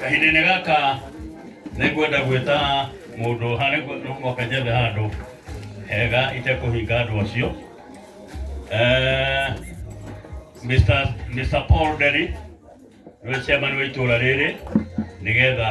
kahinda-inĩ gaka nĩ ngwenda gwĩta mũndũ harĩ moka njethe handũ hega itekũhinga andũ acio Eh, Mr. Mr. Paul Derry nĩwe chairman wa itũũra rĩrĩ nĩgetha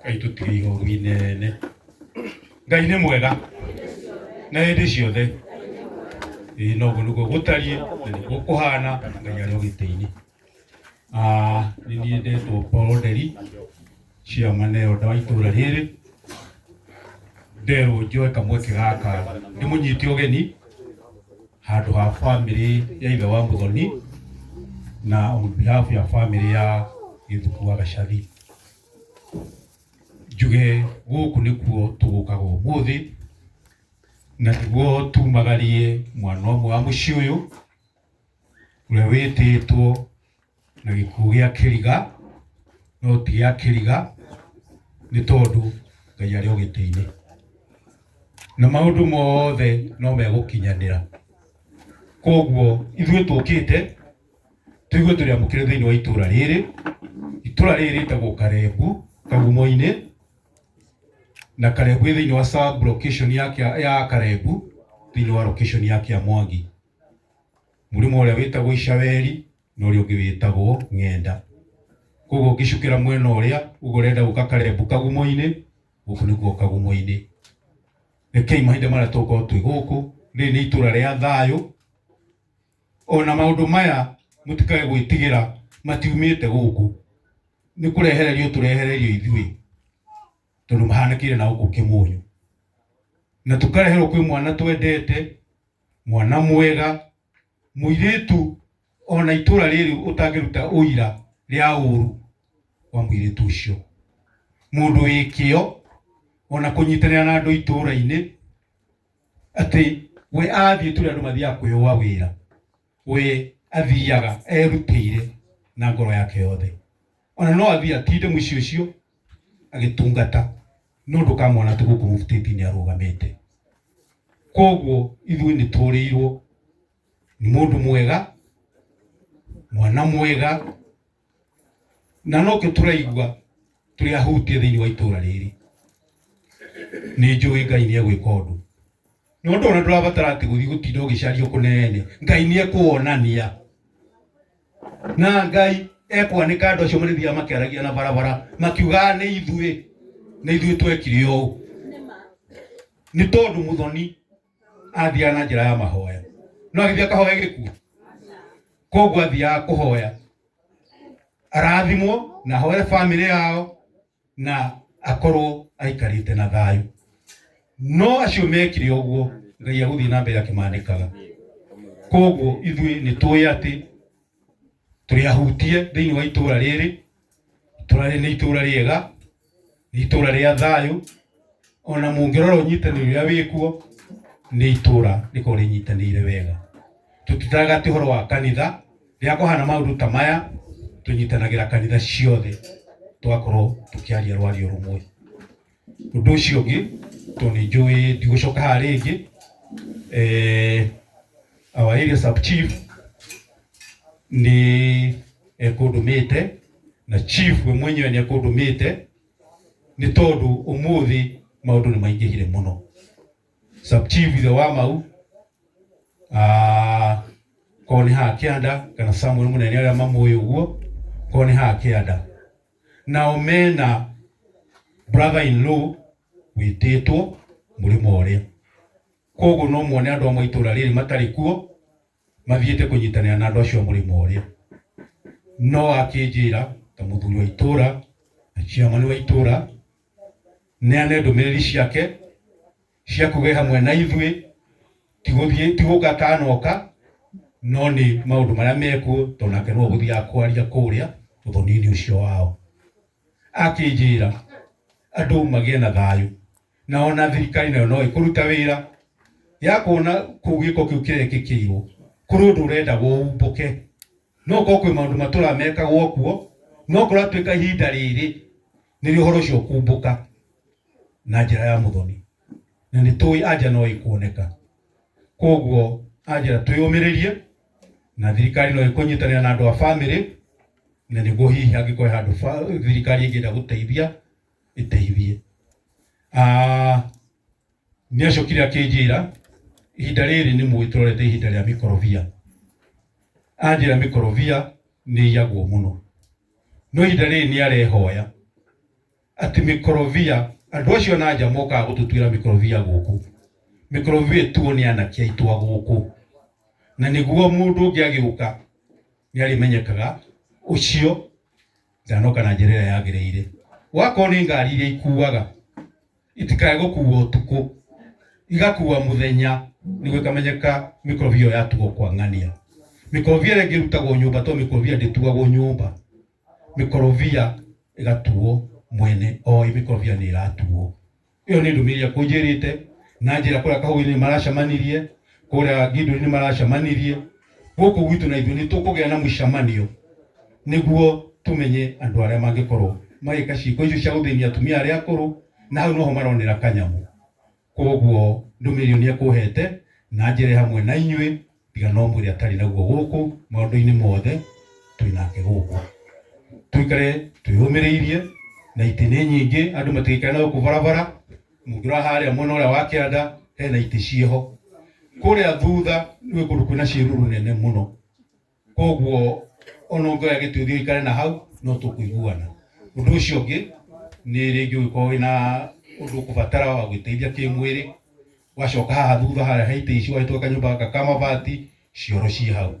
Ngai tũtige ihoru inene. Ngai nĩ mwega na hĩndĩ ciothe. Ĩĩ noguo nĩguo gũtariĩ na nĩguo kũhana Ngai arĩ o gĩtĩ-inĩ. Ah, nĩ niĩ ndetwo Paul Nderi, chairman elder wa itũũra rĩrĩ. Nderwo njoe kamweke gaka ndĩmũnyite ũgeni handũ ha bamĩrĩ ya ithe wa Mũthoni na on behalf ya bamĩrĩ ya Gĩthuku wa Gacathi. njuge gũkũ nĩkuo tũgũkaga ũmũthĩ na nĩguo tumagarie mwana ũmwe wa mũciĩ ũyũ ũrĩa wĩtĩtwo na gĩkuũ gĩa kĩriga no ti gĩa kĩriga nĩ tondũ Ngai arĩ o gĩtĩ-inĩ na maũndũ mothe no megũkinyanĩra koguo ithuĩ tũkĩte Tũ ithuĩ tũrĩ amũkĩre thĩinĩ wa itũũra rĩrĩ. Itũũra rĩrĩ rĩtagwo Karengu, Kagumo-inĩ, na Karengu ĩ thĩinĩ wa sub location ya, Kĩa- ya Karengu thĩinĩ wa location ya Kĩamwangi. Mũrĩmo ũrĩa wĩtagwo Icaweri na ũrĩa ũngĩ wĩtagwo Ng'enda. Koguo ũngĩcukĩra mwena ũrĩa uga ũrenda gũka Karengu Kagumo-inĩ, gũkũ nĩkuo Kagumo-inĩ. Rekei mahinda marĩa tũgũkorwo twĩ gũkũ, rĩrĩ nĩ itũũra rĩa thayũ, Ona maũndũ maya mũtikae gwĩtigĩra matiumĩte gũkũ, nĩ kũrehererio tũrehererio ithuĩ, tondũ mahanĩkĩire na gũkũ Kĩmũnyu, na tũkareherwo kwĩ mwana twendete, mwana mwega, mũirĩtu ona itũra rĩrĩ ũtangĩruta ũira rĩa ũru wa mũirĩtu ũcio, mũndũ wĩ kĩo ona kũnyitanĩra na andũ itũra-inĩ. atĩ we athiĩ tũrĩa andũ mathiaga kwĩũa wĩra we athiaga erutĩire na ngoro yake yothe ona no athiĩ atinde mũciĩ ũcio agĩtungata no ndũkamwona tu gũkũ mũbutĩti-inĩ arũgamĩte koguo ithuĩ nĩ tũrĩirwo nĩ mũndũ mwega mwana mwega na nokio turaigua turi ahutie thiini wa itura riri ni njui ngai ni egwika undu ni undu ona ndurabatara ati guthii gutinda ugicario kunene ngai ni ekuonania na ngai ekwanika andu acio marithiaga makiaragia na barabara makiugaga ni ithui ni ithui twekire uu ni tondu muthoni athiaga na njĩra ya mahoya no agĩthiĩ akahoya gĩkuũ koguo athiaga kũhoya arathimwo na ahoere bamĩrĩ yao na akorwo aikarĩte na thayũ no acio mekire ũguo ngai agũthiĩ na mbere akĩmandĩkaga koguo ithuĩ nĩ tũĩ atĩ tũrĩ ahutie thĩinĩ wa itũũra rĩrĩ Itũũra rĩrĩ nĩ itũũra rĩega, nĩ itũũra rĩa thayũ, ona mũngĩrora ũnyitanĩri ũrĩa wĩkuo, nĩ itũũra rĩkoragwo rĩnyitanĩire wega. Tũtitaraga atĩ ũhoro wa kanitha, rĩrĩa kwahana maũndũ ta maya, tũnyitanagĩra kanitha ciothe tũgakorwo tũkĩaria rwario rũmwe. Ũndũ ũcio ũngĩ tondũ nĩ njũĩ ndigũcoka haha rĩngĩ, our area sub chief nĩ ekũndũmĩte na chief we mwenyewe nĩ ekũndũmĩte nĩ tondũ ũmũthĩ maũndũ nĩ maingĩhire mũno. Sub chief ithe wa Mau, korwo nĩ haha kĩanda kana Samuel Mũnene arĩa mamũĩ ũguo, korwo nĩ haha kĩanda. Nao me na brother in law wĩtĩtwo mũrĩmo ũrĩa. Kwoguo no muone andũ amwe a itũũra rĩrĩ matarĩ kuo mathiĩte kũnyitanĩra na andũ acio a mũrĩmo ũrĩa. No akĩnjĩra ta mũthuri wa itũũra na chairman wa itũũra neane ndũmĩrĩri ciake, cia kuuga ĩ hamwe na ithuĩ, ti gũthiĩ ti gũka kanoka, no nĩ maũndũ marĩa mekuo tondũ nake no ũgũthiaga kwaria kũrĩa ũthoni-inĩ ũcio wao. Akĩnjĩra andũ magĩe na thayũ na ona thirikari nayo no ĩkũruta wĩra ya kuona kũu gĩko kĩu kĩrekĩkĩirwo kũrĩ ũndũ ũrenda gũumbũke, no gũkorwo kwĩ maũndũ matũraga mekagwo kuo, no kũratuĩka ihinda rĩrĩ nĩ rĩo ũhoro ũcio ũkumbũka na njĩra ya mũthoni na nĩ tũĩ anja no ĩkuoneka koguo anjĩra twĩyũmĩrĩrie na thirikari no ĩkũnyitanĩra na andũ a bamĩrĩ na nĩguo hihi angĩkorwo he handũ ba- thirikari ĩngĩenda gũteithia ĩteithie Ah, nĩ acokire akĩnjĩra ihinda rĩrĩ nĩ mũĩ tũrorete ihinda rĩa mĩkorobia anjĩra mĩkorobia nĩ iyagwo mũno No ihinda rĩrĩ nĩ arehoya atĩ mĩkorobia, andũ acio na nja mokaga gũtũtuĩra mĩkorobia gũkũ, mĩkorobia ĩtuo nĩ anake aitũ a gũkũ, na nĩguo mũndũ ũngĩ agĩũka nĩ arĩmenyekaga ũcio ndanoka na njĩra ĩrĩa yagĩrĩire. Wakorwo nĩ ngari iria ikuaga... itikae gũkuua ũtukũ igakuua mũthenya nĩguo ikamenyeka mĩkorobia ĩyo yatuo kwa ng'ania mĩkorobia ĩrĩa ĩngĩ ĩrutagwo nyũmba to mĩkorobia ndĩtuagwo nyũmba mĩkorobia ĩgatuo mwene oĩ mĩkorobia nĩ ĩratuo ĩyo nĩ ndũmĩrĩri ĩrĩa akũnjĩrĩte na njĩra kũrĩa kahũinĩ maracemanirie kũrĩa Gidoni nĩ maracemanirie, gũkũ gwitũ na ithuĩ nĩ tũkũgĩa na mũcemanio nĩguo tũmenye andũ arĩa mangĩkorwo magĩka ciĩko icio cia gũthĩnia atumia arĩa akũrũ, na hau noho maronera kanyamũ. Koguo ndũmĩrĩri ĩyo nĩ ekũhete na njĩre hamwe na inyuĩ, tiga no mwĩre atarĩ naguo gũkũ, maũndũ-inĩ mothe twĩ nake gũkũ. Tũikare twĩyũmĩrĩirie na itĩ nĩ nyingĩ, andũ matigĩikare na gũkũ barabara, Mũngĩrora harĩa mwena ũrĩa wa kĩanda hena itĩ cieho, kũrĩa thutha gwĩ kũndũ kwĩna ciĩruru nene mũno, koguo ona ũngĩoya gĩtĩ ũthiĩ ũikare na hau no tũkũiguana. Ũndũ ũcio ũngĩ nĩ rĩngĩ ũngĩkorwo wĩna ũndũ ũkũbatara wa gwĩteithia kĩmwĩrĩ, wacoka haha thutha harĩa he itĩ ici ũgagĩtwara kanyũmba gaka ka mabati, cioro ciĩ hau.